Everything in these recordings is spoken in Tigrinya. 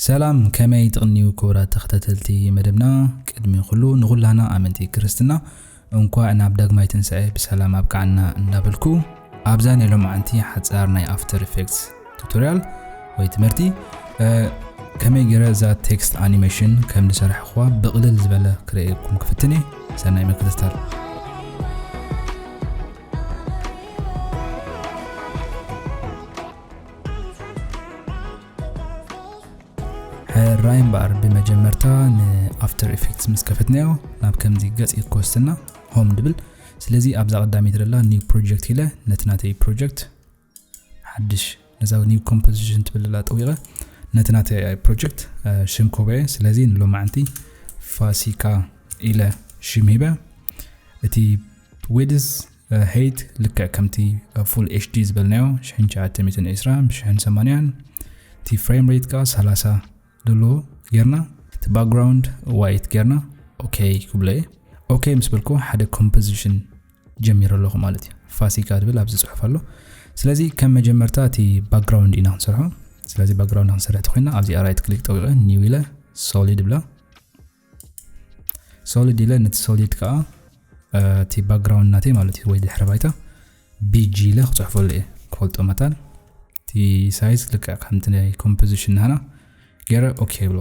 ሰላም ከመይ ትቅንዩ ክቡራት ተከታተልቲ መደብና ቅድሚ ኩሉ ንኩላህና ኣመንቲ ክርስትና እንኳዕ ናብ ዳግማይ ትንሳኤ ብሰላም ኣብቅዓና እንዳበልኩ ኣብዛ ናይ ሎምዓንቲ ሓጻር ናይ ኣፍተር ኢፌክትስ ቱቶርያል ወይ ትምህርቲ ከመይ ገረ እዛ ቴክስት ኣኒሜሽን ከም ዝሰራሕኹዋ ብቅልል ዝበለ ክርእየኩም ክፍትን እየ ሰናይ ምክትታል ሕራይ እምበኣር ብመጀመርታ ንኣፍተር ኢፌክትስ ምስ ከፈትናዮ ናብ ከምዚ ገጽ እዩ ክወስድና ሆም ድብል ስለዚ ኣብዛ ቀዳሚት ደላ ኒው ፕሮጀክት ኢለ ነቲ ናተይ ፕሮጀክት ሓድሽ ነዛ ኒው ኮምፖዚሽን ትብልላ ጠዊቐ ነቲ ናተይ ፕሮጀክት ሽም ኮበየ ስለዚ ንሎማዕንቲ ፋሲካ ኢለ ሽም ሂበ እቲ ዌድስ Height ልክዕ ከምቲ ኣብ ፉል HD ዝበልናዮ ሽሕን ትሽዓተ ሚእትን ዕስራ ብሽሕን ሰማንያን እቲ ፍሬም ሬት ከዓ ሰላሳ ዘለዎ ጌርና እቲ ባክግራውንድ ዋይት ጌርና ኦኬ ክብሎ እየ ኦኬ ምስ በልኩ ሓደ ኮምፖዚሽን ጀሚረ ኣለኹ ማለት እዩ ፋሲካ ትብል ኣብዚ ፅሑፍ ኣሎ ስለዚ ከም መጀመርታ እቲ ባክግራውንድ ኢና ክንሰርሖ ስለዚ ባክግራውንድ ክንሰርሕ ተኮይና ኣብዚ ኣራይት ክሊክ ጠዊቐ ኒው ኢለ ሶሊድ ብላ ሶሊድ ኢለ ነቲ ሶሊድ ከዓ እቲ ባክግራውንድ ናተይ ማለት እዩ ወይ ድሕረ ባይታ ቢጂ ኢለ ክፅሕፈሉ እየ ክፈልጦ መታን እቲ ሳይዝ ልክዕ ከምቲ ናይ ኮምፖዚሽን ናህና ገይረ ኦኬ ይብሎ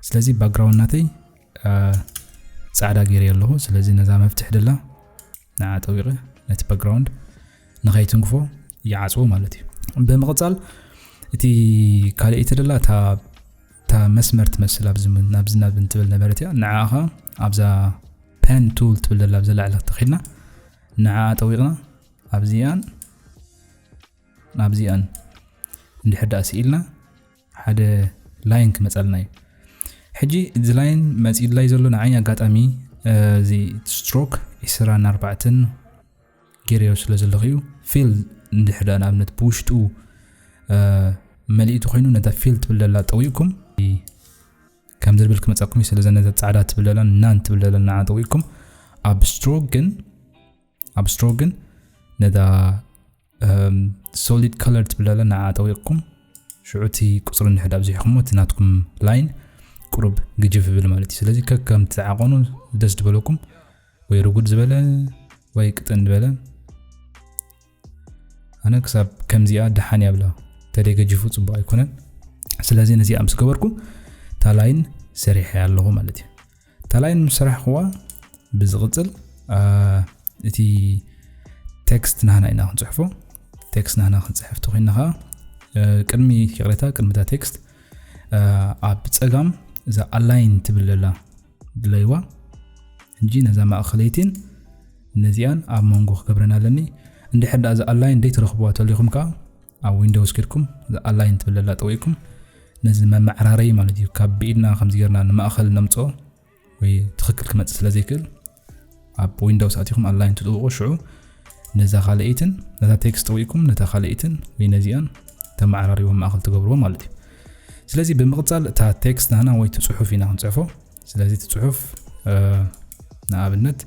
ስለዚ ባክግራውንድ ናተይ ፃዕዳ ገይረ ኣለኹ ስለዚ ነዛ መፍትሕ ደላ ንዓ ጠዊቐ ነቲ ባክግራውንድ ንኸይትንክፎ ይዓፅዎ ማለት እዩ ብምቕፃል እቲ ካልእ ተደላ እታ እታ መስመር ትመስል ኣብዚ ናብዚ ናብ እንትብል ነበረት እያ ንዓኻ ኣብዛ ፐን ቱል ትብል ዘላ ኣብዘላ ዕለት ተኺድና ንዓ ጠዊቕና ኣብዚኣን ኣብዚኣን እንድሕር ዳኣ ስኢልና ሓደ ላይን ክመጸልና እዩ ሕጂ እዚ ላይን መጺላይ ዘሎ ንዓይ ኣጋጣሚ እዚ ስትሮክ ዕስራን ኣርባዕተን ገይረዮ ስለ ዘለኹ እዩ ፊል እንድሕር ደኣ ንኣብነት ብውሽጡ መሊእቲ ኮይኑ ነታ ፊል ትብል ዘላ ጠዊቕኩም ከም ዝብል ክመፀኩም እዩ ስለዚ ነዛ ፃዕዳ ትብል ዘላ ናን ትብል ዘላ ንዓ ጠዊቕኩም ኣብ ስትሮክ ግን ኣብ ስትሮክ ግን ነታ ሶሊድ ከለር ትብል ኣለ ንዓ ጠዊቕኩም ሽዑ እቲ ቁፅሪ እንድሕር ኣብዚሕኹሞ እቲ ናትኩም ላይን ቁሩብ ግጅፍ ይብል ማለት እዩ ስለዚ ከከም ትዓቐኑ ደስ ዝበለኩም ወይ ርጉድ ዝበለ ወይ ቅጥን ዝበለ ኣነ ክሳብ ከምዚኣ ደሓን እያ ብላ ተደይ ገጅፉ ፅቡቅ ኣይኮነን ስለዚ ነዚኣ ምስ ገበርኩ እታ ላይን ሰሪሐ ኣለኹ ማለት እዩ ተላይን ምስ ሰራሕኽዋ ብዝቕጽል እቲ ቴክስት ናህና ኢና ክንጽሕፎ ቴክስት ናህና ክንጽሕፍ ተኮይና ከዓ ቅድሚ ይቕሬታ ቅድሚ እታ ቴክስት ኣብ ፀጋም እዛ ኣላይን ትብል ዘላ ድለይዋ እንጂ ነዛ ማእኸለይቲን ነዚኣን ኣብ መንጎ ክገብረን ኣለኒ እንድሕር ዳኣ እዛ ኣላይን ደይትረኽብዋ ተሊኹም ከዓ ኣብ ዊንዶውስ ጌርኩም እዛ ኣላይን ትብል ዘላ ጠዊእኩም ነዚ መመዓራረይ ማለት እዩ ካብ ብኢድና ከምዚ ጌርና ንማእኸል ነምፆ ወይ ትኽክል ክመፅእ ስለ ዘይክእል ኣብ ዊንዶውስ ኣትኹም ኣላይን ትጥውቁ ሽዑ ነዛ ካልኣይትን ነታ ቴክስት ጠዊእኩም ነታ ካልኣይትን ወይ ነዚኣን ተመዓራሪቦ ማእኸል ትገብርዎ ማለት እዩ ስለዚ ብምቕፃል እታ ቴክስት ናና ወይ ትፅሑፍ ኢና ክንፅሕፎ ስለዚ ትፅሑፍ ንኣብነት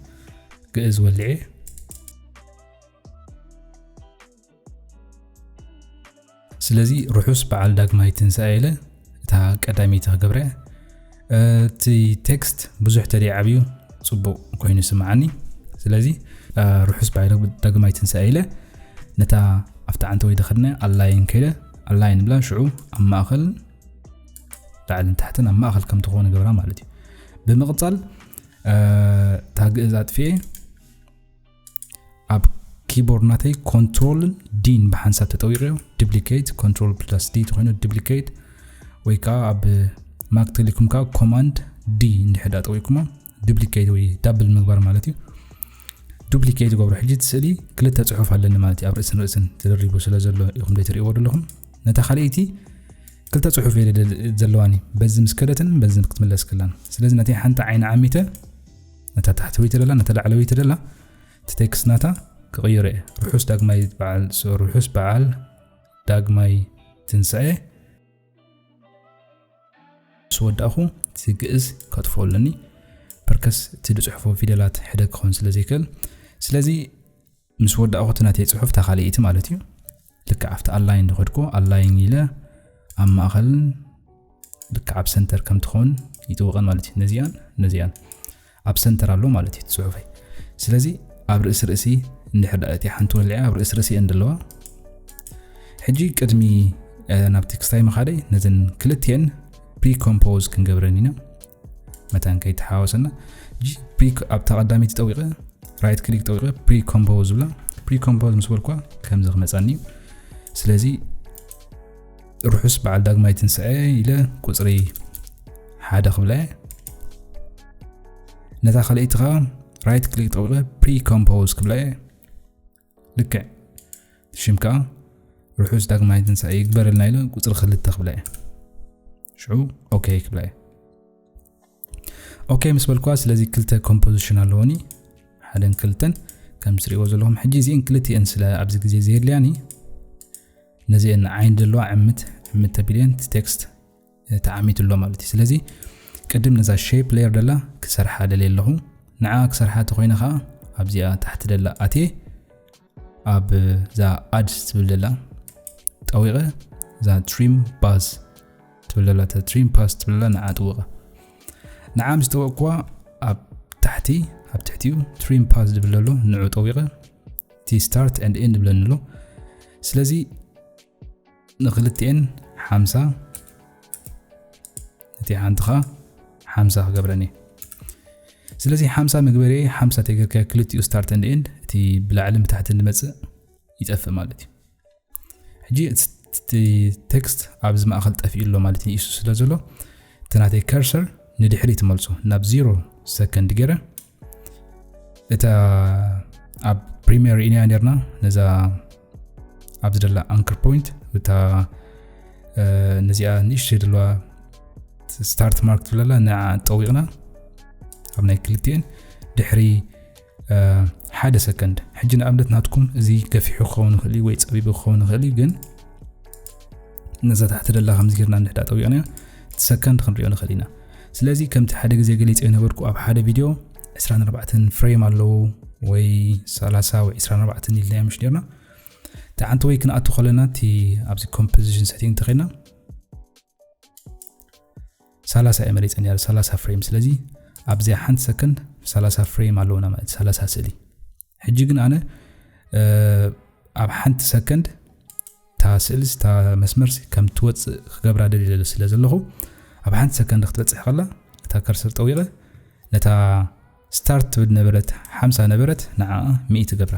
ግእዝ ወልዔ ስለዚ ርሑስ በዓል ዳግማይ ትንሳኤ ኢለ እታ ቀዳመይቲ ክገብረ እቲ ቴክስት ብዙሕ ተደ ዓብዩ ፅቡቕ ኮይኑ ስምዓኒ ስለዚ ርሑስ በዓል ዳግማይ ትንሳኤ ኢለ ነታ ኣብቲ ዓንተ ወይ ደኸድነ ኣላይን ከይደ ኣላይን ብላ ሽዑ ኣብ ማእኸል ላዕልን ታሕትን ኣብ ማእኸል ከም ትኾነ ገብራ ማለት እዩ ብምቕፃል እታ ግእዝ ኣጥፍኤ ኣብ ኪቦርድ ናተይ ኮንትሮልን ዲን ብሓንሳብ ተጠዊቀዮ ዲፕሊኬት ኮንትሮል ፕላስ ዲ ተኮይኑ ዲፕሊኬት ወይ ከዓ ኣብ ማክ ቴሌኮም ከዓ ኮማንድ ዲ እንድሕዳ ጠዊኩሞ ዱፕሊኬት ወይ ዳብል ምግባር ማለት እዩ ዱፕሊኬት ገብሮ ሕጂ ስእሊ ክልተ ፅሑፍ ኣለኒ ማለት እዩ ኣብ ርእስን ርእስን ተደሪቡ ስለ ዘሎ ኢኹም ዘይትርእይዎ ዘለኹም ነታ ካልኣይቲ ክልተ ፅሑፍ ዘለዋኒ በዚ ምስ ከደትን በዚ ክትምለስ ክላን ስለዚ ነቲ ሓንቲ ዓይኒ ዓሚተ ነታ ታሕተወይቲ ደላ ነታ ላዕለወይቲ ደላ እቲ ቴክስት ናታ ክቕይሮ እየ ርሑስ ዳግማይ በዓል ርሑስ በዓል ዳግማይ ትንስዐ ስወዳእኹ እቲ ግእዝ ከጥፎ ኣለኒ ፐርከስ እቲ ዝፅሕፎ ፊደላት ሕደ ክኸውን ስለ ዘይክእል ስለዚ ምስ ወዳእኹ እቲ ናተይ ጽሑፍ እታ ካልኣይቲ ማለት እዩ ልክዕ ኣብቲ ኣላይን ዝኸድኩ ኣላይን ኢለ ኣብ ማእኸልን ልክዕ ኣብ ሰንተር ከም ትኸውን ይጥውቐን ማለት እዩ ነዚኣን ነዚኣን ኣብ ሰንተር ኣሎ ማለት እዩ ጽሑፈይ ስለዚ ኣብ ርእሲ ርእሲ እንድሕር እቲ ሓንቲ ወሊዐ ኣብ ርእሲ ርእሲ እየን ዘለዋ ሕጂ ቅድሚ ናብ ቴክስታይ መኻደይ ነዘን ክልትኤን ፕሪኮምፖዝ ክንገብረን ኢና መታን ከይተሓዋወሰና ፕሪ ኣብታ ቀዳሚት ጠዊቐ ራይት ክሊክ ጠዊቐ ፕሪ ኮምፖዝ ዝብላ ፕሪ ኮምፖዝ ምስ በልኳ ከምዚ ክመፃኒ እዩ ስለዚ ርሑስ በዓል ዳግማይ ትንስዐ ኢለ ቁፅሪ ሓደ ክብላ እየ ነታ ካልኣይቲ ከዓ ራይት ክሊክ ጠዊቐ ፕሪ ኮምፖዝ ክብላ እየ ልክዕ ሽም ከዓ ርሑስ ዳግማይ ትንሳኤ ይግበረልና ኢለ ቁፅሪ ክልተ ክብላ እየ ሽዑ ኦኬ ክብላ እየ ኦኬ ምስ በልኩዋ ስለዚ ክልተ ኮምፖዚሽን ኣለዎኒ ሓደን ክልተን ከም ትሪእዎ ዘለኹም ሕጂ እዚአን ክልቲአን ስለ ኣብዚ ግዜ ዘየድልያኒ ነዚአን ዓይን ዘለዋ ዕምት ዕምት ተቢለየን ቴክስት ተዓሚቱ ኣሎ ማለት እዩ ስለዚ ቅድም ነዛ ሸፕ ሌየር ደላ ክሰርሓ ደልየ ኣለኹ ንዓ ክሰርሓ እንተኮይነ ከዓ ኣብዚኣ ታሕቲ ደላ ኣትየ ኣብ እዛ ኣድ ትብል ደላ ጠዊቐ እዛ ትሪም ባዝ ትብል ደላ ትሪም ፓስ ትብል ደላ ንዓ ጥውቐ ንዓ ምስ ጠወቕኩዋ ኣብ ታሕቲ ኣብ ትሕቲኡ ትሪም ፓስ ዝብል ዘሎ ንዑ ጠዊቐ እቲ ስታርት ኤንድ ኤንድ ብለኒ ኣሎ ስለዚ ንክልቲኤን ሓምሳ እቲ ሓንቲ ከዓ ሓምሳ ክገብረን እየ ስለዚ ሓምሳ መግበሪ ሓምሳ ተገርካ ክልቲኡ ስታርት ንድ ኤንድ እቲ ብላዕልን ብታሕትን ዝመፅእ ይጠፍእ ማለት እዩ ሕጂ እቲ ቴክስት ኣብዚ ማእኸል ጠፍኡ ኣሎ ማለት እዩ ኢሱ ስለ ዘሎ እቲ ናተይ ከርሰር ንድሕሪ ትመልሶ ናብ ዜሮ ሰከንድ ገይረ እታ ኣብ ፕሪምየር ኢና ነርና ነዛ ኣብዚ ደላ ኣንክር ፖይንት እታ ነዚኣ ንእሽተይ ዘለዋ ስታርት ማርክ ትብለላ ንዓ ጠዊቕና ኣብ ናይ ክልቲኤን ድሕሪ ሓደ ሰከንድ ሕጂ ንኣብነት ናትኩም እዚ ገፊሑ ክኸውን ይኽእል እዩ ወይ ፀቢቡ ክኸውን ይኽእል እዩ ግን ነዛ ታሕቲ ደላ ከምዚ ጌርና እንድሕዳ ጠዊቕናያ እቲ ሰከንድ ክንሪኦ ንኽእል ኢና ስለዚ ከምቲ ሓደ ግዜ ገሊፀ የነበርኩ ኣብ ሓደ ቪድዮ 24 ፍሬም ኣለዉ ወይ 30 ወይ 24 ኢልና ምሽ ኔርና እቲ ሓንቲ ወይ ክንኣቱ ከለና እቲ ኣብዚ ኮምፖዚሽን ሰቲንግ እንተኸይና 30 እየ መሪፀ ነር 30 ፍሬም ስለዚ ኣብዚኣ ሓንቲ ሰከንድ 30 ፍሬም ኣለዉና ማለት 30 ስእሊ ሕጂ ግን ኣነ ኣብ ሓንቲ ሰከንድ እታ ስእልስ እታ መስመርሲ ከም ትወፅእ ክገብራ ደልለ ስለ ዘለኹ ኣብ ሓንቲ ሰከንድ ክትበፅሕ ከላ እታ ከርሰር ጠዊቐ ነታ ስታርት ትብል ነበረት ሓምሳ ነበረት ንዓ ሚኢ ትገብራ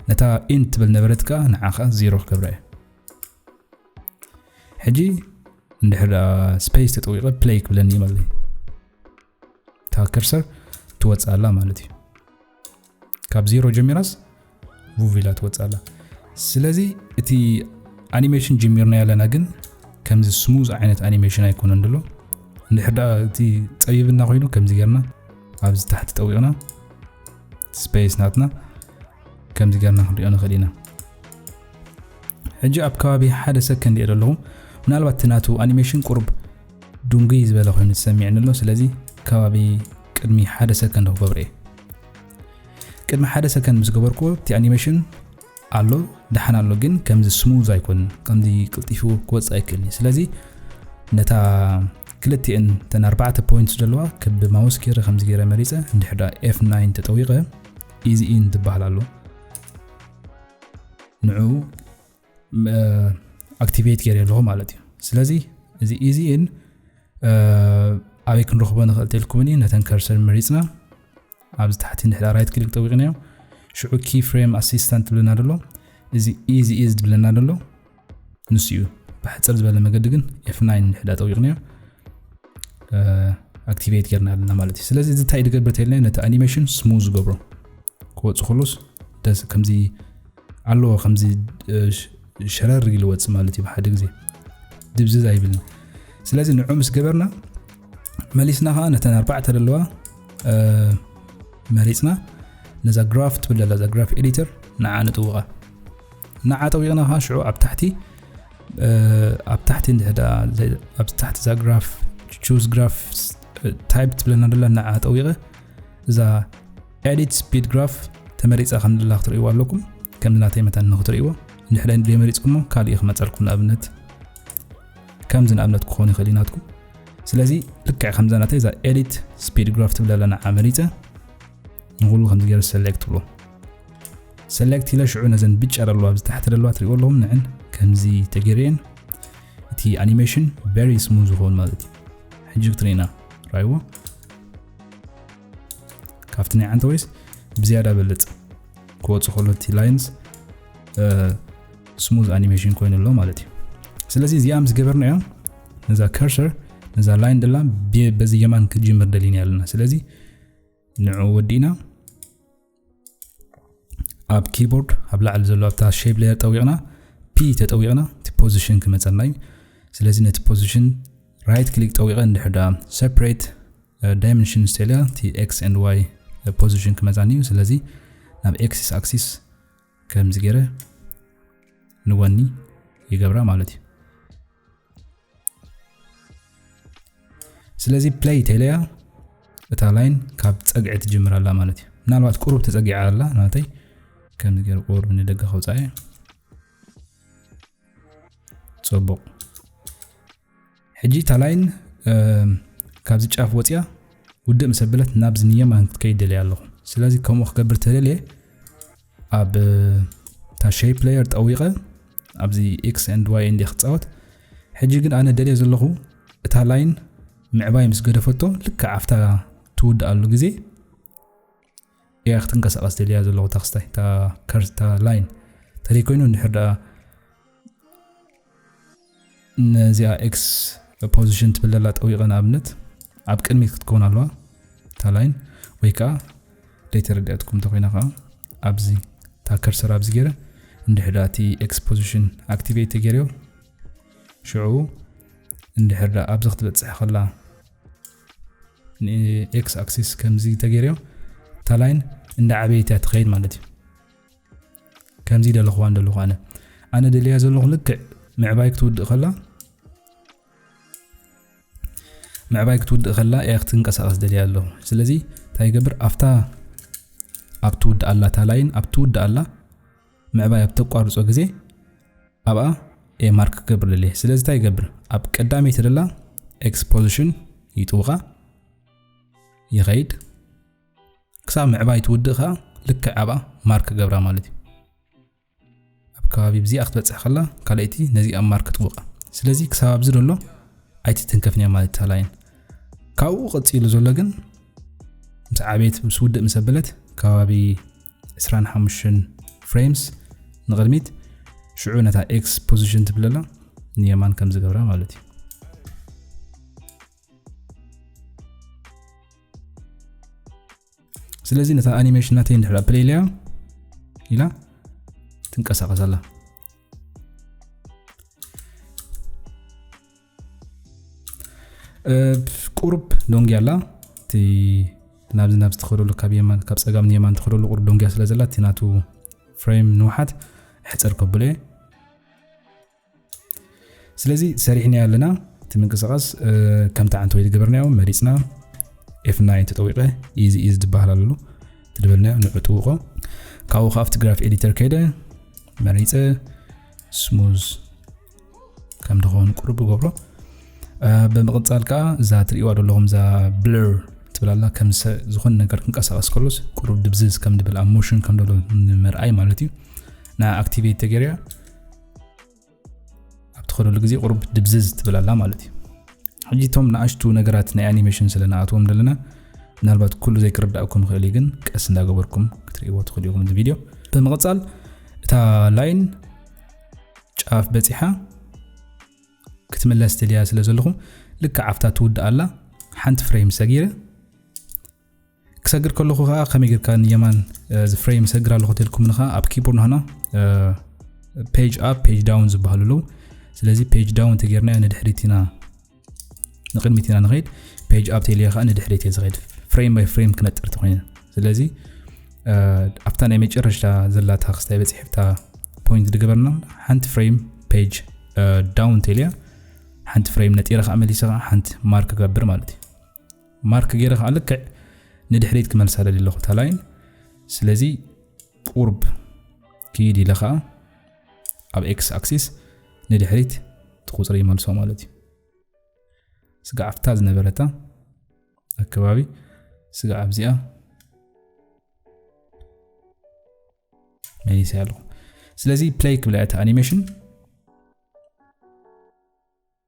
ነታ ኢን ትብል ነበረት ከዓ ንዓ ከዓ ዜሮ ክገብራ እየ ሕጂ እንድሕር ስፔስ ተጠዊቐ ፕለይ ክብለኒ ማለት እዩ እታ ከርሰር ትወፅኣላ ማለት እዩ ካብ ዜሮ ጀሚራስ ቡቪላ ትወፅኣላ ስለዚ እቲ ኣኒሜሽን ጀሚርና ያለና ግን ከምዚ ስሙዝ ዓይነት ኣኒሜሽን ኣይኮነን ደሎ እንድሕር ደኣ እቲ ፀቢብና ኮይኑ ከምዚ ጌርና ኣብዚ ታሕቲ ጠዊቕና ስፔስ ናትና ከምዚ ጌርና ክንሪኦ ንኽእል ኢና ሕጂ ኣብ ከባቢ ሓደ ሰከንድ እየ ዘለኹ ምናልባት እቲ ናቱ ኣኒሜሽን ቁርብ ዱንግይ ዝበለ ኮይኑ ዝሰሚዕኒ ኣሎ ስለዚ ከባቢ ቅድሚ ሓደ ሰከንድ ክገብሮ እየ ቅድሚ ሓደ ሰከንድ ምስ ገበርኩ እቲ ኣኒሜሽን ኣሎ ደሓን ኣሎ ግን ከምዚ ስሙዝ ኣይኮንን ከምዚ ቅልጢፉ ክወፅ ኣይክእልኒ ስለዚ ነታ ክልቲኤን ተን ኣርባዕተ ፖይንት ዘለዋ ክብ ማውስ ገይረ ከምዚ ገይረ መሪፀ እንድሕዳ ኤፍ9 ተጠዊቐ ኢዚ ኢን ዝበሃል ኣሎ ንዕኡ ኣክቲቬት ገይረ ኣለኹ ማለት እዩ ስለዚ እዚ ኢዚን ኣበይ ክንረኽቦ ንኽእል ተልኩምኒ ነተን ከርሰር መሪፅና ኣብዚ ታሕቲ ንድሕሪ ራይት ክሊክ ጠዊቕናዮ ሽዑ ኪ ፍሬም ኣሲስታንት ትብለና ደሎ እዚ ኢዚ ኢዝ ትብለና ደሎ ንሱ እዩ ብሕፅር ዝበለ መገዲ ግን ኤፍ9 ንድሕዳ ጠዊቕናዮ ኣክቲቬት ጌርና ኣለና ማለት እዩ ስለዚ እዚ እንታይ ድገብር ተልና ነቲ ኣኒሜሽን ስሙ ዝገብሮ ክወፅ ከሎስ ደስ ከምዚ ኣለዎ ከምዚ ሸረር ኢሉ ወፅ ማለት እዩ ብሓደ ግዜ ድብዝዝ ኣይብልን ስለዚ ንዑ ምስ ገበርና መሊስና ከዓ ነተን ኣርባዕተ ዘለዋ መሪፅና ነዛ ግራፍ ትብል ዘላ እዛ ግራፍ ኤዲተር ንዓ ንጥውቓ ንዓ ጠዊቕና ኸዓ ሽዑ ኣብ ታሕቲ ኣብ ታሕቲ እንድሕር ኣብ ታሕቲ እዛ ግራፍ ቹዝ ግራፍ ታይፕ ትብለና ደላ ንዓ ጠዊቐ እዛ ኤዲት ስፒድ ግራፍ ተመሪፃ ከም ዘላ ክትርእይዎ ኣለኩም ከም ናተይ መታን ንክትርእይዎ ንድሕረ ዘይመሪፅኩሞ ካልእ ክመፀልኩም ንኣብነት ከምዚ ንኣብነት ክኾኑ ይኽእል ናትኩም ስለዚ ልክዕ ከምዛ ናተይ እዛ ኤዲት ስፒድ ግራፍ ትብለ ኣለና ዓመሪፀ ንኹሉ ከምዚ ገይረ ሰሌክት ትብሎ ሰሌክት ኢለ ሽዑ ነዘን ብጫ ደለዋ ኣብዚ ታሕቲ ደለዋ ትሪእዎ ኣለኹም ንዕን ከምዚ ተገይረየን እቲ ኣኒሜሽን ቨሪ ስሙዝ ዝኸውን ማለት እዩ ሕጂ ክትሪእና ራይዎ ካብቲ ናይ ዓንተ ወይስ ብዝያዳ በልፅ ክወፁ ከሎ እቲ ላይንስ ስሙዝ ኣኒሜሽን ኮይኑ ኣሎ ማለት እዩ ስለዚ እዚኣ ምስ ገበርና እዮም ነዛ ከርሰር ነዛ ላይን ደላ በዚ የማን ክጅምር ደሊና ኣለና ስለዚ ንዑ ወዲእና ኣብ ኪቦርድ ኣብ ላዕሊ ዘሎ ኣብታ ሼፕ ሌየር ጠዊቕና ፒ ተጠዊቕና እቲ ፖዚሽን ክመፀና እዩ ስለዚ ነቲ ፖዚሽን ራይት ክሊክ ጠዊቐ እንድሕር ዳ ሰፕሬት ዳይመንሽን ስተልያ እቲ ኤክስ ኤንድ ዋይ ፖዚሽን ክመፃኒ እዩ ስለዚ ናብ ኤክሲስ ኣክሲስ ከምዚ ገይረ ንወኒ ይገብራ ማለት እዩ ስለዚ ፕለይ ቴለያ እታ ላይን ካብ ፀግዒ ትጅምር ኣላ ማለት እዩ ምናልባት ቁሩብ ተፀጊዓ ኣላ ናተይ ከምዚ ገይረ ቁሩብ ንደገ ከውፃእ እዩ ፅቡቅ ሕጂ እታ ላይን ካብዚ ጫፍ ወፅያ ውድእ ምስ ኣበለት ናብዚ ንየማን ክትከይድ ደልየ ኣለኹ ስለዚ ከምኡ ክገብር ተደልየ ኣብ እታ ሸይፕ ፕለየር ጠዊቐ ኣብዚ ኤክስ ንድ ዋይ እንድ ክፃወት ሕጂ ግን ኣነ ደልየ ዘለኹ እታ ላይን ምዕባይ ምስ ገደፈቶ ልክዕ ኣብታ ትውድኣሉ ግዜ እያ ክትንቀሳቐስ ደልያ ዘለኹ እታ ክስታይ እታ ከርስ እታ ላይን ተደይ ኮይኑ እንድሕር ደኣ ነዚኣ ኤክስ ፖዚሽን ትብል ዘላ ጠዊቐ ንኣብነት ኣብ ቅድሚት ክትከውን ኣለዋ እታ ላይን ወይ ከዓ ዘይተረድኣትኩም እንተኮይና ከዓ ኣብዚ እታ ከርሰር ኣብዚ ገይረ እንድሕር ደኣ እቲ ኤክስ ፖዚሽን ኣክቲቬት ተገይርዮ ሽዑ እንድሕር ደኣ ኣብዚ ክትበፅሕ ከላ ንኤክስ ኣክሲስ ከምዚ ተገይርዮ እታ ላይን እንዳዓበየት እያ ትኸይድ ማለት እዩ ከምዚ ደለኹዋ እንደለኹ ኣነ ኣነ ደልያ ዘለኹ ልክዕ ምዕባይ ክትውድእ ከላ ምዕባይ ክትውድእ ከላ እያ ክትንቀሳቐስ ደልያ ኣለኹ ስለዚ እንታይ ይገብር ኣብታ ኣብ ትውድእ ኣላ እታ ላይን ኣብ ትውድእ ኣላ ምዕባይ ኣብ ተቋርጾ ግዜ ኣብኣ ኤ ማርክ ክገብርልል እየ ስለዚ እንታይ ይገብር ኣብ ቀዳመይቲ ደላ ኤክስ ፖዚሽን ይጥውቓ ይኸይድ ክሳብ ምዕባይ ትውድእ ከኣ ልክዕ ኣብኣ ማርክ ገብራ ማለት እዩ ኣብ ከባቢ ብዚኣ ክትበፅሕ ከላ ካልኣይቲ ነዚ ኣብ ማርክ ትውቃ ስለዚ ክሳብ ኣብዚ ደሎ ኣይትትንከፍን እያ ማለት ታላይን ካብኡ ቀፂሉ ዘሎ ግን ምስ ዓበየት ምስ ውድእ ምስ ኣበለት ከባቢ ዕስራን ሓሙሽተን ፍሬምስ ንቕድሚት ሽዑ ነታ ኤክስ ፖዚሽን ትብለላ ንየማን ከም ዝገብራ ማለት እዩ ስለዚ ነታ ኣኒሜሽን ናተይ ንድሕር ፕሌይ ኢለያ ኢላ ትንቀሳቐስ ኣላ ቁሩብ ዶንጊ ኣላ እቲ ናብዚ ናብ ዝትኸደሉ ካብ የማን ካብ ፀጋም ንየማን ትኸደሉ ቁሩብ ዶንጊያ ስለ ዘላ እቲ ናቱ ፍሬም ንውሓት ሕፅር ከብሎ እየ ስለዚ ሰሪሕናዮ ኣለና እቲ ምንቅስቃስ ከምቲ ዓንተ ወይ ዝገበርናዮ መሪፅና ኤፍና ን ተጠዊቀ ኢዚ ኢዚ ዝበሃል ኣለሉ ትድበልናዮ ንዑ ጥውቆ ካብኡ ካብቲ ግራፍ ኤዲተር ከይደ መሪፀ ስሙዝ ከም ድኸውን ቅሩብ ይገብሮ ብምቕጻል ከዓ እዛ ትርእዋ ዘለኹም እዛ ብለር ትብላላ ከም ዝኾነ ነገር ክንቀሳቀስ ከሎስ ቅሩብ ድብዝዝ ከም ድብል ኣብ ሞሽን ከም ደሎ ንምርኣይ ማለት እዩ ና ኣክቲቬት ተገርያ ኣብ ትኸደሉ ግዜ ቅሩብ ድብዝዝ ትብላላ ማለት እዩ ሕጂ እቶም ንኣሽቱ ነገራት ናይ ኣኒሜሽን ስለ ንኣትዎም ዘለና ምናልባት ኩሉ ዘይክርዳእኩም ይኽእል እዩ ግን ቀስ እንዳገበርኩም ክትርእይዎ ትኽእሉ ኢኹም እዚ ቪድዮ ብምቕጻል እታ ላይን ጫፍ በጺሓ ክትምለስ ደልያ ስለ ዘለኹ ልክዕ ኣብታ ትውድእ ኣላ ሓንቲ ፍሬም ሰጊረ ክሰግር ከለኹ ከዓ ከመይ ጌርካ ንየማን ዝፍሬም ሰግር ኣለኹ ተልኩም ንኻ ኣብ ኪቦርድ ንሃና ፔጅ ኣፕ ፔጅ ዳውን ዝበሃሉ ኣለዉ ስለዚ ፔጅ ዳውን ተጌርና ንድሕሪት ኢና ንቅድሚት ኢና ንኸይድ ፔጅ ኣብ ቴሌ ከዓ ንድሕሪት እየ ዝኸይድ ፍሬም ባይ ፍሬም ክነጥር ተኮይነ ስለዚ ኣብታ ናይ መጨረሻ ዘላታ ክስታይ በፂሕ ብታ ፖይንት ድገበርና ሓንቲ ፍሬም ፔጅ ዳውን ቴልያ ሓንቲ ፍሬም ነጢረ ከዓ መሊሰ ከዓ ሓንቲ ማርክ ገብር ማለት እዩ ማርክ ገይረ ከዓ ልክዕ ንድሕሪት ክመልሳ ደሊ ኣለኹ ታላይን ስለዚ ቁርብ ክይድ ኢለ ከዓ ኣብ ኤክስ ኣክሲስ ንድሕሪት እቲ ቁፅሪ ይመልሶ ማለት እዩ ስጋ ኣብታ ዝነበረታ ኣከባቢ ስጋ ኣብዚኣ መሊሰ ኣለኹ ስለዚ ፕለይ ክብላ እቲ ኣኒሜሽን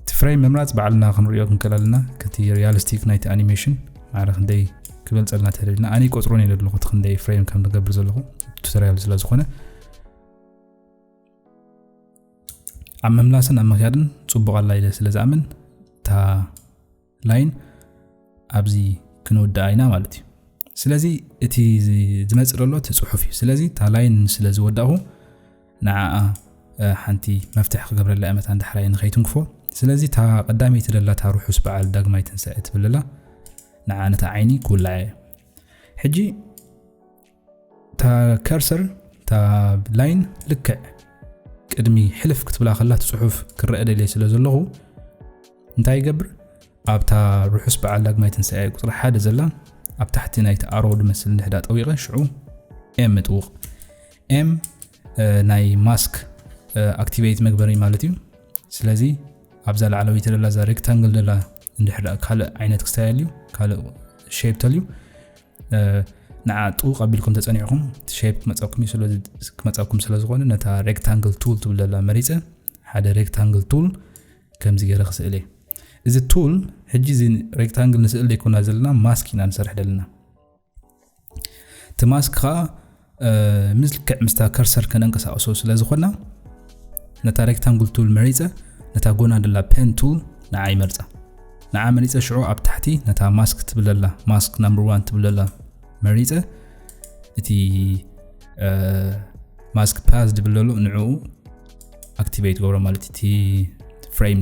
እቲ ፍሬም ምምራጽ ባዕልና ክንርእዮ ክንክእል ኣለና ከቲ ሪያሊስቲክ ናይቲ ኣኒሜሽን ማዕረ ክንደይ ክበልጸልና ተደሊና ኣነ ቆጽሮን እየ ዘለኹ እቲ ክንደይ ፍሬም ከም ዝገብር ዘለኹ ቱቶሪያል ስለ ዝኾነ ኣብ ምምላስን ኣብ ምክያድን ፅቡቕ ኣላ ኢለ ስለ ዝኣምን እታ ላይን ኣብዚ ክንውድኣ ኢና ማለት እዩ ስለዚ እቲ ዝመፅእ ዘሎ እቲ ፅሑፍ እዩ ስለዚ እታ ላይን ስለ ዝወዳእኹ ንዓኣ ሓንቲ መፍትሒ ክገብረላ እመታ ንዳሕራይ ንኸይትንክፎ ስለዚ እታ ቀዳመይቲ ለላታ ርሑስ በዓል ዳግማይ ትንሳኤ ትብልላ ንዓ ነታ ዓይኒ ክውላዐ ሕጂ እታ ከርሰር እታ ላይን ልክዕ ቅድሚ ሕልፍ ክትብላ ከላ ትፅሑፍ ክረአ ደልየ ስለ ዘለኹ እንታይ ይገብር ኣብታ ርሑስ በዓል ዳግማይ ትንሳኤ ቁፅሪ ሓደ ዘላ ኣብ ታሕቲ ናይቲ ኣሮ ድመስል ንሕዳ ጠዊቐ ሽዑ ኤም እጥውቕ ኤም ናይ ማስክ ኣክቲቬት መግበሪ ማለት እዩ ስለዚ ኣብዛ ላዕለወይቲ ደላ እዛ ሬክታንግል ደላ እንድሕር ካልእ ዓይነት ክስተያል እዩ ካልእ ሸፕ ተልዩ ንዓ ጥውቕ ኣቢልኩም ተጸኒዕኹም እቲ ሸፕ ክመጻኩም ክመጻኩም ስለ ዝኾነ ነታ ሬክታንግል ቱል ትብል ዘላ መሪጸ ሓደ ሬክታንግል ቱል ከምዚ ገይረ ክስእል እየ እዚ ቱል ሕጂ እዚ ሬክታንግል ንስእል ዘይኮና ዘለና ማስክ ኢና ንሰርሕ ዘለና እቲ ማስክ ከዓ ምልክዕ ምስታ ከርሰር ከነንቀሳቕሶ ስለ ዝኾና ነታ ሬክታንጉል ቱል መሪጸ ነታ ጎና ደላ ፔን ቱል ንዓ ይመርጻ ንዓ መሪጸ ሽዑ ኣብ ታሕቲ ነታ ማስክ ትብለላ ማስክ ናምበር ዋን ትብለላ መሪጸ እቲ ማስክ ፓዝ ድብለሉ ንዕኡ ኣክቲቬት ገብሮ ማለት እቲ ፍሬም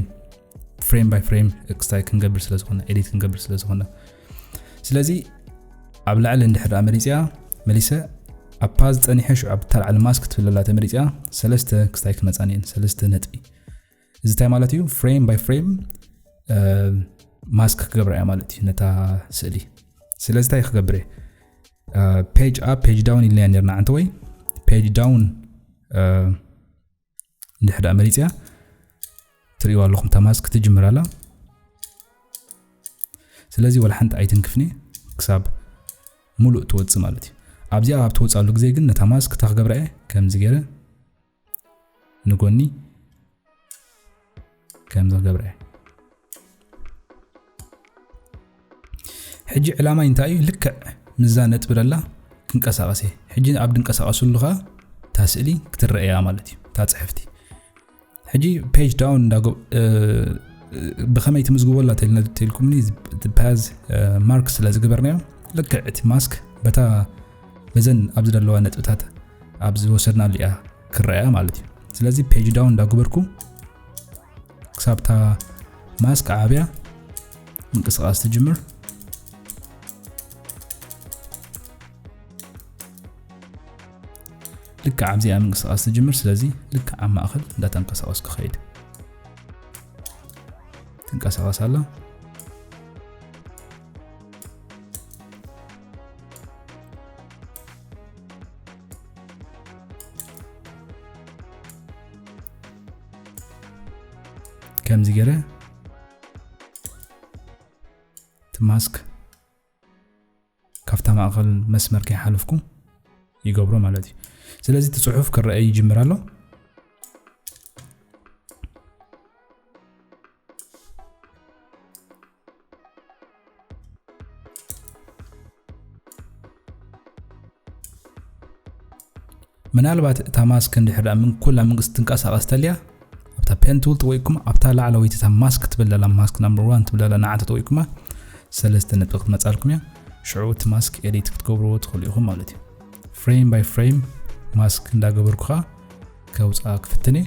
ፍሬም ባይ ፍሬም ክስታይ ክንገብር ስለ ዝኾነ ኤዲት ክንገብር ስለ ዝኾነ ስለዚ ኣብ ላዕሊ እንድሕር ደኣ መሪፅያ መሊሰ ኣብ ፓዝ ፀኒሐ ሽዑ ኣብ ታልዓሊ ማስክ ትብለላ ተመሪፅያ ሰለስተ ክስታይ ክመፃን እየን ሰለስተ ነጥቢ እዚ እንታይ ማለት እዩ ፍሬም ባይ ፍሬም ማስክ ክገብራ እያ ማለት እዩ ነታ ስእሊ ስለዚ እንታይ ክገብር እየ ፔጅ ኣብ ፔጅ ዳውን ኢልናያ ነርና ዓንተ ወይ ፔጅ ዳውን ድሕሪ ድኣ መሪፅያ ትርእይዋ ኣለኹም ተማዝ ክትጅምር ኣላ ስለዚ ወላ ሓንቲ ኣይትንክፍኒ ክሳብ ሙሉእ ትወፅእ ማለት እዩ ኣብዚኣ ኣብ ትወፅኣሉ ግዜ ግን ነታ ማዝ ክታ ክገብራ እየ ከምዚ ገይረ ንጎኒ ከምዚ ክገብረ እየ ሕጂ ዕላማይ እንታይ እዩ ልክዕ ምዛ ነጥቢ ደላ ክንቀሳቐስ እየ ሕጂ ኣብ ድንቀሳቐስሉ ከዓ እታ ስእሊ ክትረአያ ማለት እዩ እታ ፅሕፍቲ ሕጂ ፔጅ ዳውን ብከመይ ትምዝግበላ ተልኩምኒ ፓዝ ማርክ ስለ ዝገበርናዮ ልክዕ እቲ ማስክ በታ በዘን ኣብዚ ዘለዋ ነጥብታት ኣብ ዝወሰድናሉ እያ ክረኣ ማለት እዩ ስለዚ ፔጅ ዳውን እንዳገበርኩ ክሳብታ ማስክ ዓብያ ምንቅስቃስ ትጅምር ልክዕ ኣብዚኣ ምንቅስቃስ ትጅምር ስለዚ ልክዕ ኣብ ማእኸል እንዳተንቀሳቀስ ክኸይድ ትንቀሳቀስ ኣላ ከምዚ ገረ እቲ ማስክ ካብታ ማእኸል መስመር ከይሓለፍኩ ይገብሮ ማለት እዩ ስለዚ እቲ ፅሑፍ ክረአ ይጅምር ኣሎ ምናልባት እታ ማስክ እንድሕር ምን ኩላ መንግስቲ ትንቀሳቐስ ተልያ ኣብታ ፔን ትብል ጥወይኩም ኣብታ ላዕለወይቲ እታ ማስክ ትብል ዘላ ማስክ ናምበር ዋን ትብል ዘላ ንዓንተ ጥወይኩማ ሰለስተ ነጥቢ ክትመፃልኩም እያ ሽዑ እቲ ማስክ ኤዲት ክትገብርዎ ትኽእሉ ኢኹም ማለት እዩ ፍሬም ባይ ፍሬም ማስክ እንዳገበርኩ ከዓ ከውፃ ክፍትን እየ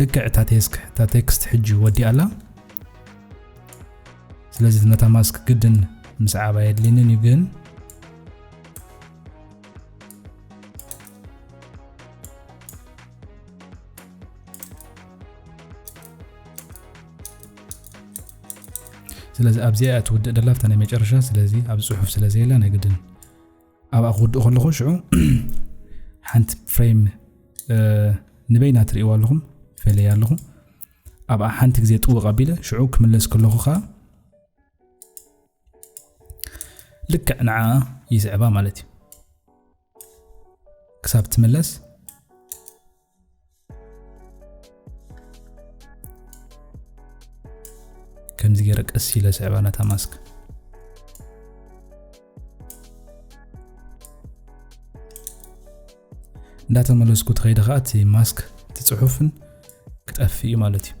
ልክዕ እታ ቴክስት ሕጂ ወዲኣ ኣላ ስለዚ እቲ መታማስክ ግድን ምስዓብ ኣየድልየንን እዩ ግን ስለዚ ኣብዚኣ እትውድእ ደላፍታ ናይ መጨረሻ ስለዚ ኣብ ፅሑፍ ስለዘየላ ናይ ግድን ኣብኣ ክውድእ ከለኹ ሽዑ ሓንቲ ፍሬም ንበይና ትርእይዋ ኣለኹም ፈለያ ኣለኹ ኣብኣ ሓንቲ ግዜ ጥውቕ ኣቢለ ሽዑ ክምለስ ከለኹ ከዓ ልክዕ ንዓ ይስዕባ ማለት እዩ ክሳብ ትምለስ ከምዚ ገይረ ቀስ ኢለ ስዕባ ነታ ማስክ እንዳተመለስኩ ትኸይደ ከዓ እቲ ማስክ እቲ ፅሑፍን ክጠፍእ እዩ ማለት እዩ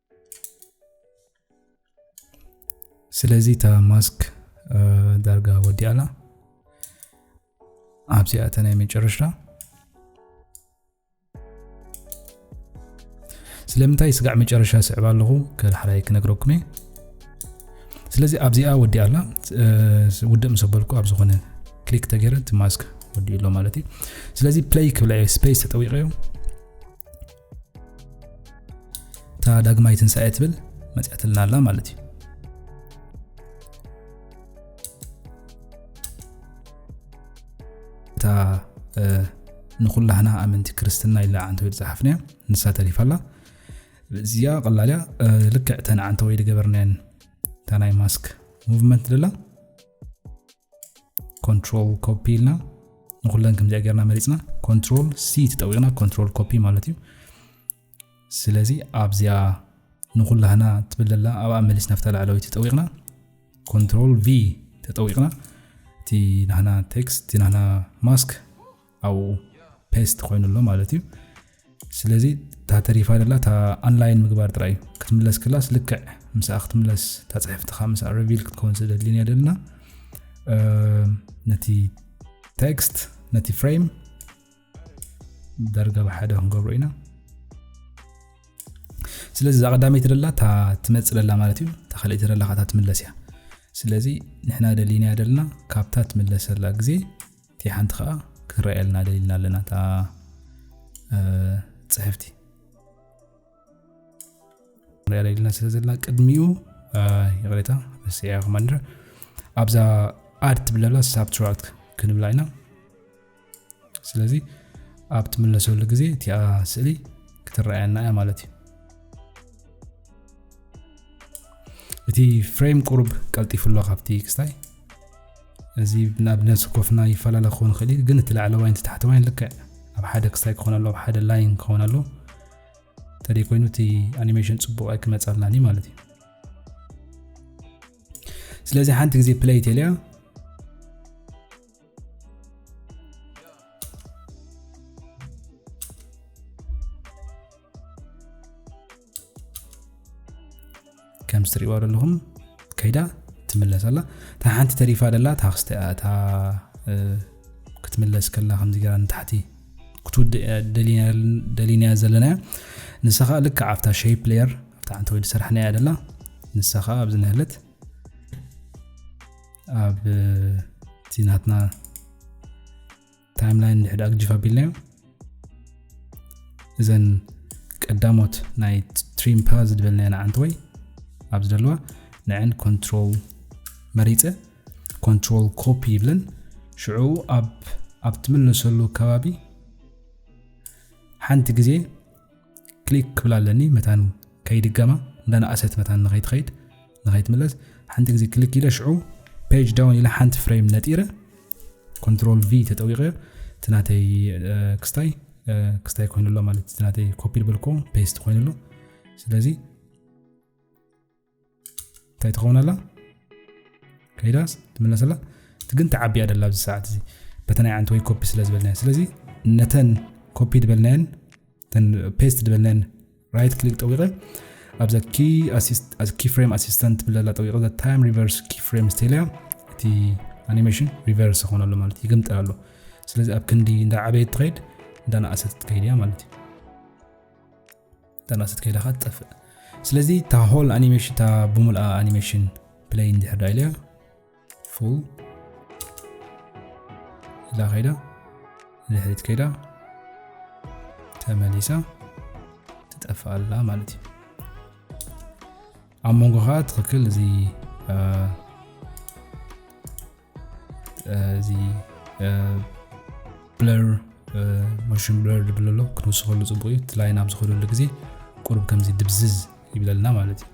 ስለዚ እታ ማስክ ዳርጋ ወዲኣላ ኣብዚኣ እተ ናይ መጨረሻ ስለምንታይ ስጋዕ መጨረሻ ስዕብ ኣለኹ ከልሓራይ ክነግረኩም እየ ስለዚ ኣብዚኣ ወዲኣ ኣላ ውድእ ምስ በልኩ ኣብ ዝኾነ ክሊክ ተገይረ እቲ ማስክ ወዲኡ ኣሎ ማለት እዩ ስለዚ ፕለይ ክብላ ስፔስ ተጠዊቀ እዮም እታ ዳግማይ ትንሳኤ ትብል መፅያትልና ኣላ ማለት እዩ እታ ንኩላህና ኣመንቲ ክርስትና ኢላ ዓንተወይ ዝፀሓፍናያ ንሳ ተሪፋ ኣላ እዚኣ ቀላልያ ልክዕ ተን ዓንተወይ ዝገበርናየን እታ ናይ ማስክ ሙቭመንት ደላ ኮንትሮል ኮፒ ኢልና ንኩለን ከምዚኣ ጌርና መሪፅና ኮንትሮል ሲ ተጠዊቕና ኮንትሮል ኮፒ ማለት እዩ ስለዚ ኣብዚኣ ንኩላህና ትብለላ ኣብኣ መሊስ ናፍታ ላዕለዊ ተጠዊቕና ኮንትሮል ቪ ተጠዊቕና እቲ ናህና ቴክስት እቲ ናህና ማስክ ኣብኡ ፔስት ኮይኑ ኣሎ ማለት እዩ ስለዚ እታ ተሪፋ ደላ እታ ኣንላይን ምግባር ጥራይ እዩ ክትምለስ ክላስ ልክዕ ምስኣ ክትምለስ እታ ፅሕፍትኻ ምስ ረቪል ክትከውን ስለደድልን እያ ደልና ነቲ ቴክስት ነቲ ፍሬም ዳርጋ ብሓደ ክንገብሮ ኢና ስለዚ እዛ ቀዳመይቲ ደላ እታ ትመፅእ ደላ ማለት እዩ እታ ካልኣይቲ ደላ ካታ ትምለስ እያ ስለዚ ንሕና ደሊና ደልና ካብታ ትምለሰላ ግዜ እቲ ሓንቲ ከዓ ክንረኣየልና ደሊልና ኣለና እታ ፅሕፍቲ ንሪኣ ደሊልና ስለ ዘለና ቅድሚኡ ይቕሬታ ረሲዐ ኮማንደር ኣብዛ ኣድ ትብለላ ሳብትራክት ክንብላ ኢና ስለዚ ኣብ ትምለሰሉ ግዜ እቲኣ ስእሊ ክትረኣየና እያ ማለት እዩ እቲ ፍሬም ቁሩብ ቀልጢፉ ኣሎ ካብቲ ክስታይ እዚ ንኣብነት ስኮፍና ይፈላለ ክኸውን ይኽእል እዩ ግን እቲ ላዕለዋይን እቲ ታሕተዋይን ልክዕ ኣብ ሓደ ክስታይ ክኾን ኣለዎ ኣብ ሓደ ላይን ክኸውን ኣለዎ እንተደይ ኮይኑ እቲ ኣኒሜሽን ፅቡቅ ኣይክመፃልናን እዩ ማለት እዩ ስለዚ ሓንቲ ግዜ ፕለይ ቴልያ ከምዚ ትርእይዋ ዘለኹም ከይዳ ትምለስ ኣላ እታ ሓንቲ ተሪፋ ደላ ታክስቲ እያ እታ ክትምለስ ከላ ከምዚ ገራ ንታሕቲ ክትውድእ ደሊና ዘለና እያ ንሳ ከዓ ልክ ኣብታ ሸይ ፕሌየር ኣብታ ሓንቲ ወዲ ሰራሕና እያ ደላ ንሳ ከዓ ኣብዚ ንህለት ኣብ እቲ ናትና ታይም ላይን ድሕድ ኣግጅፍ ኣቢልናዮ እዘን ቀዳሞት ናይ ትሪም ፓ ዝድበልናዮ ንዓንቲ ወይ ኣብ ዝደለዋ ንዕን ኮንትሮል መሪፀ ኮንትሮል ኮፒ ይብለን ሽዑ ኣብ ኣብ ትምለሰሉ ከባቢ ሓንቲ ግዜ ክሊክ ክብል ኣለኒ መታን ከይድገማ እንዳነኣሰት መታን ንኸይትኸይድ ንኸይትምለስ ሓንቲ ግዜ ክልክ ኢለ ሽዑ ፔጅ ዳውን ኢለ ሓንቲ ፍሬም ነጢረ ኮንትሮል ቪ ተጠዊቐ እቲ ናተይ ክስታይ ክስታይ ኮይኑ ኣሎ ማለት እቲ ናተይ ኮፒ ዝበልኮ ፔስት ኮይኑ ኣሎ ስለዚ እንታይ ትኸውን ኣላ ከይዳስ ትምለስ ኣላ እቲ ግን ተዓቢያ ደላ ኣብዚ ሰዓት እዚ በተ ናይ ዓንቲ ወይ ኮፒ ስለ ዝበልናዮ ስለዚ ነተን ኮፒ ዝበልናየን ፔስት ዝበልናየን ራይት ክሊክ ጠዊቐ ኣብዛ ኪ ፍሬም ኣሲስተንት ትብል ዘላ ጠዊቐ ዛ ታይም ሪቨርስ ኪ ፍሬም ስተልያ እቲ ኣኒሜሽን ሪቨርስ ይኾን ኣሎ ማለት እዩ ይግምጠል ኣሎ ስለዚ ኣብ ክንዲ እንዳ ዓበየት ትኸይድ እንዳ ንኣሰት ትከይድ እያ ማለት እዩ እንዳ ንኣሰት ከይዳ ካ ትጠፍእ ስለዚ እታ ሆል ኣኒሜሽን እታ ብምልኣ ኣኒሜሽን ፕለይ እንድሕር ዳ ኢልያ ፉል ኢላ ከይዳ ንድሕሪት ከይዳ ተመሊሳ ትጠፍእ ኣላ ማለት እዩ ኣብ መንጎ ከዓ ትኽክል እዚ እዚ ብለር ሞሽን ብለር ዝብለሎ ክንውስኸሉ ፅቡቅ እዩ እቲ ላይን ኣብ ዝኸደሉ ግዜ ቁርብ ከምዚ ድብዝዝ ይብለልና ማለት እዩ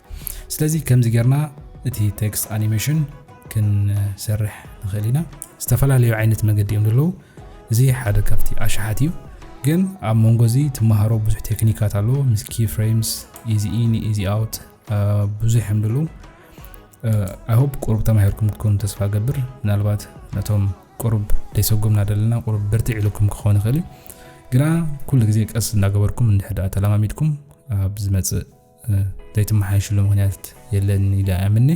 ስለዚ ከምዚ ጌርና እቲ ቴክስት ኣኒሜሽን ክንሰርሕ ንኽእል ኢና ዝተፈላለዩ ዓይነት መገዲ እዮም ዘለዉ እዚ ሓደ ካብቲ ኣሽሓት እዩ ግን ኣብ መንጎ እዚ ትመሃሮ ብዙሕ ቴክኒካት ኣለዎ ምስ ኪ ፍሬምስ ኢዚ ኢን ኢዚ ኣውት ብዙሕ እዮም ዘለዉ ኣይሆፕ ቁሩብ ተማሂርኩም ክትኮኑ ተስፋ ገብር ምናልባት ነቶም ቁሩብ ደይሰጎምና ዘለና ቁሩብ ብርትዕ ኢሉኩም ክኸውን ይኽእል እዩ ግና ኩሉ ግዜ ቀስ እናገበርኩም እንድሕር ተለማሚድኩም ኣብ ዝመጽእ ዘይትመሓየሽሉ ምክንያት የለን ኢለ ኣምኒ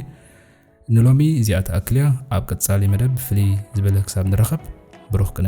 ንሎሚ እዚኣ ትኣክል እያ ኣብ ቀጻሊ መደብ ፍልይ ዝበለ ክሳብ ንረኸብ ብሩኽ ቅነ